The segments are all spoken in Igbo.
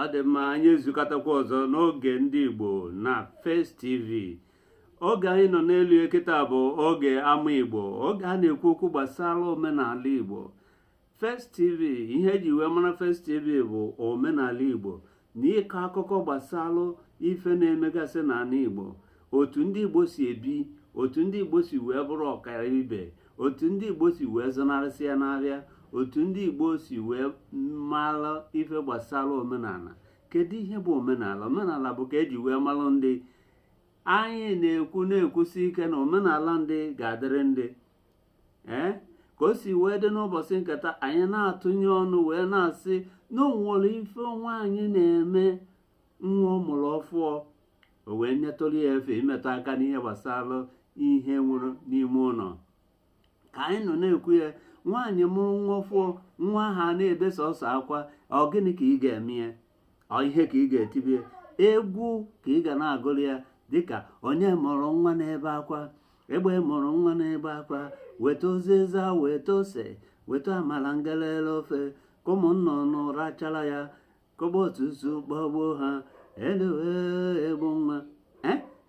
ọ dị mma anyị ezukọtakwa ọzọ n'oge ndị Igbo na First TV oge anyị nọ n'elu ya kịta bụ oge ama Igbo oge a na-ekwu okwu gbasara omenala Igbo First TV ihe eji wee mara First TV bụ omenala Igbo na ịkọ akụkọ gbasara ife na-emegasị n'ala Igbo otu ndị igbo si ebi otu ndị igbo si wee bụrụ ọkaibe otu ndị igbo si wee zọnarịsịa na-abịa otu ndị igbo si wee mara ife gbasara omenala kedu ihe bụ omenala omenala bụ ka eji wee malụ ndị anyị na-ekwu na-ekwusi ike na omenala ndị ga-adịrị ndị ka o si wee dị n'ụbọchị nke taa anyị na-atụnye ọnụ wee na-asị na onwere ife nwaanyị na-eme nwa ọ mụrụ ọfụọ o wee nyetụrụ ya efe imetụ aka n'ihe gbasara ihe o nwere n'ime ụlọ ka anyị nọ na-ekwu ya nwaanyị mụrụ nwa ọfụọ nwa ahụ na-ebe sọsọ akwa ọ gịnị ka ị ga-eme ya ọ ihe ka ị ga-etibe egwu ka ị ga na-agụrụ ya dịka onye mụrụ nwa na-ebe akwa egbe mụrụ nwa na-ebe akwa weta uziza weta ose weta amala ngelele ofe ka ụmụnnụnụ rachara ya ka ọgba otutu gbagbuo ha eluwe egbu nwa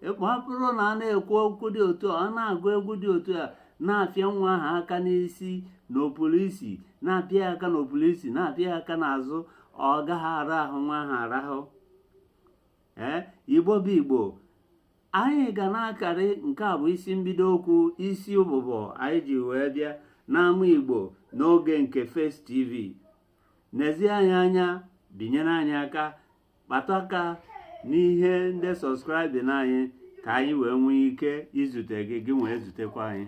ọ bụrụ na a na-ekwu okwu dị otu a na-agụ egwu dị otu a na-apịa nwa ahụ aka n'isi n'opụrụ isi na-apịa aka n'opụrụ isi na-apịa aka n'azụ ọ gaghị ara ahụ nwa ahụ arahụ igbo bụ igbo anyị ga na-akarị nke a bụ isi mbido okwu isi ụbụbọ anyị ji wee bịa n'ama igbo n'oge nke First TV nezie anyị anya binyere anyị aka kpatụ aka n'ihe ndị subscribe na anyị ka anyị wee nwee ike izute gị gị wee zutekwa anyị